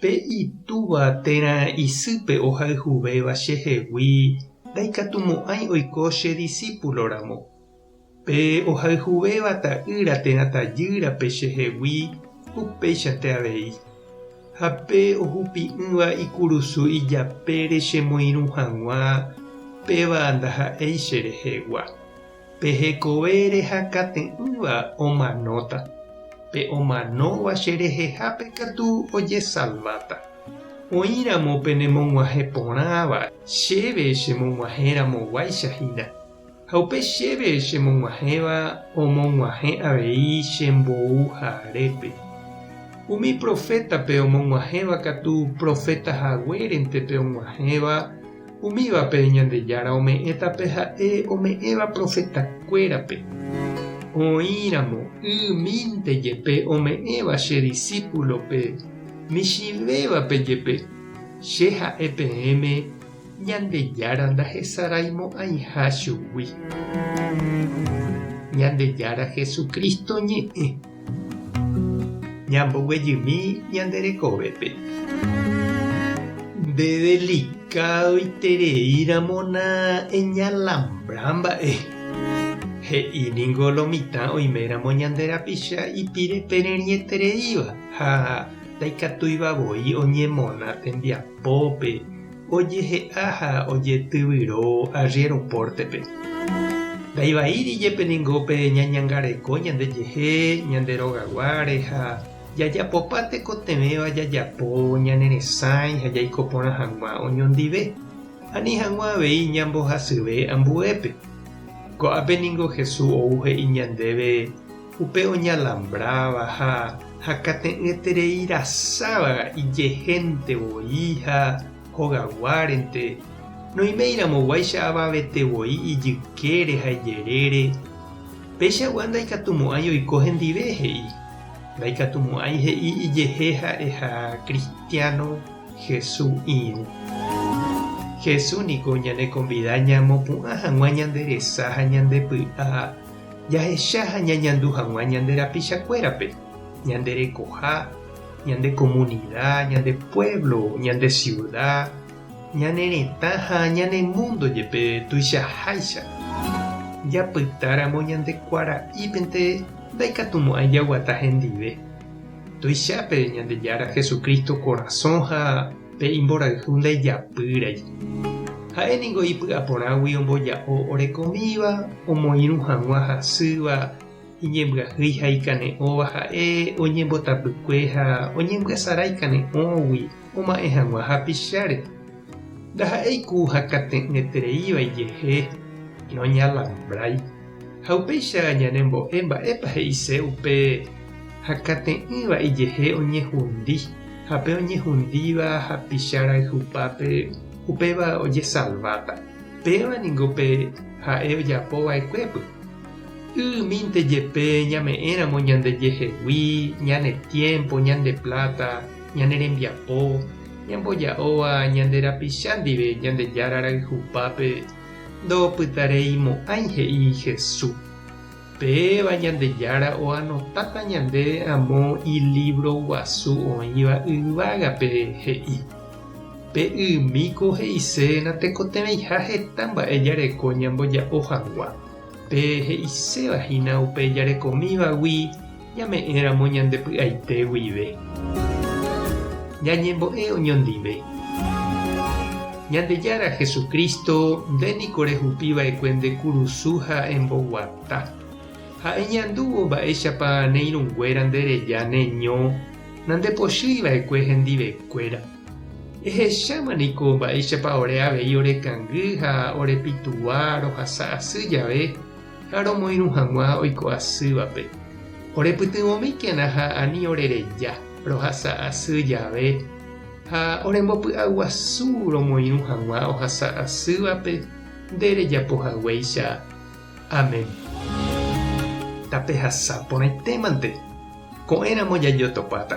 Pe itúva térã isýpe ohayhuvéva chehegui ndaikatumo'ãi oiko che disípuloramo. Pe ohayhuvéva ta'ýra térã tajýrape chehegui upéichante avei. Ha pe ohupi'ỹva ikurusu ijapére chemoirũ hag̃ua, péva ndaha'éi cherehegua. Pe hekove rehakate'ỹva omanóta, pe omanóva che rehehápe katu ojesalváta. Oĩramo penemog̃uahẽ porãva, chéve chemog̃uahẽ ramoguáicha hína. Ha upe chéve chemog̃uahẽva omog̃uahẽ avei che mbou ha arépe. Umi profétape omog̃uahẽva katu profeta haguérente pe og̃uahẽva, Umívape Ñandejára ome'ẽta pe ha'e ome'ẽva profetakuérape, oĩramo y mínte jepe ome'ẽva che disípulope, michĩvévape jepe, che ha'e peẽme, Ñandejára ndahesaraimo'ãiha chugui. Ñandejára Jesucristo ñe'ẽ. Ñamboguejymi ñande rekovépe. Nde delicádoitereíramo nañalambrá mba'e, he'i ningo lo mitã oiméramo ñande rapicha ipire pererĩetereíva ha ndaikatúiva voi oñemona tembiapópe, Ojehe'a ha ojetyvyro arriéro pórtepe. Ndaivaíri jepe ningo pe ñañangareko ñandejehe ñande rogaguáre ha jajapopa tekotevẽva jajapo ñane resãi ha jaiko porã hag̃ua oñondive, ani hag̃ua avei ñambohasyve ambuépe. Ko'ápe ningo Jesús ou he'i ñandéve, Upe oñalambráva ha hakate'ỹetereirasáva ijehénte voi ha hogaguárente, noiméiramoguáicha avavete voi ijykére ha ijerére, peichagua ndaikatumo'ãi oiko hendive, he'i. Ndaikatumo'ãi he'i ijehe ha'eha kristiáno Hesu irũ. Hesu niko ñanekonvida ñamopu'ã hag̃ua ñande resa ha ñande py'a jahecha ha ñañandu hag̃ua ñande rapichakuérape, ñande rekoha, ñande komunida, ñande puévlo, ñande siuda, ñane retã ha ñane múndo jepe tuichaháicha. Japytáramo ñande kuara'ípente ndaikatumo'ãi jaguata hendive. Tuichápe Ñandejára Jesucristo korasõ ha Pe imborayhu ndajapýrai. Ha'e ningo ipy'a porãgui omboja'o orekomíva, omoirũ hag̃ua hasýva, iñembyahýi ha ikane'õva ha'e, oñembotapykue ha oñembyasarã ikane'õgui, oma'ẽ hag̃ua hapicháre. Ndaha'éi ku hakate'ỹetereíva ijehe, roñalambrái. Ha upéicha ñanembo'e mba'épa he'ise upe hakate'ỹva ijehe oñehundi, ha pe oñehundíva hapicha rayhupápe upéva ojesalváta. Péva ningo pe ha'e ojapo va'ekuépy. Y mínte jepe ñame'ẽramo ñande jehegui, ñane tiémpo, ñande pláta, ñane rembiapo, ñamboja'óva ñande rapicha ndive Ñandejára rayhupápe, Ndo'opytareimo'ãi he'i Hesu. Péva Ñandejára oanotáta ñandéve amo ilívro guasu oĩva yvágape he'i, Pe ymíko he'ise natekotevẽiha heta mba'e jareko ñamboja'o hag̃ua, pe he'iséva hína upe jarekomívagui, Ñame'ẽramo ñande py'aite guive. Ñañembo'e oñondive. Ñandejára Jesucristo, nde niko rehupi va'ekue nde kurusu ha emboguata. Ha eñandúvo mba'éichapa ne irũnguéra nde reja ne ño, nandepochýi va'ekue hendivekuéra. Ehecháma niko mba'éichapa ore avei orekangy ha orepytugua rohasa asy jave, ha romoirũ hag̃ua oiko asývape. Orepytyvõmíkena ha ani orereja, rohasa asy jave, ha orembopy'aguasu romoirũ hag̃ua ohasa asývape nde rejapo haguéicha. Amén. Tapehasa porãitémante, ko'ẽramo jajotopáta.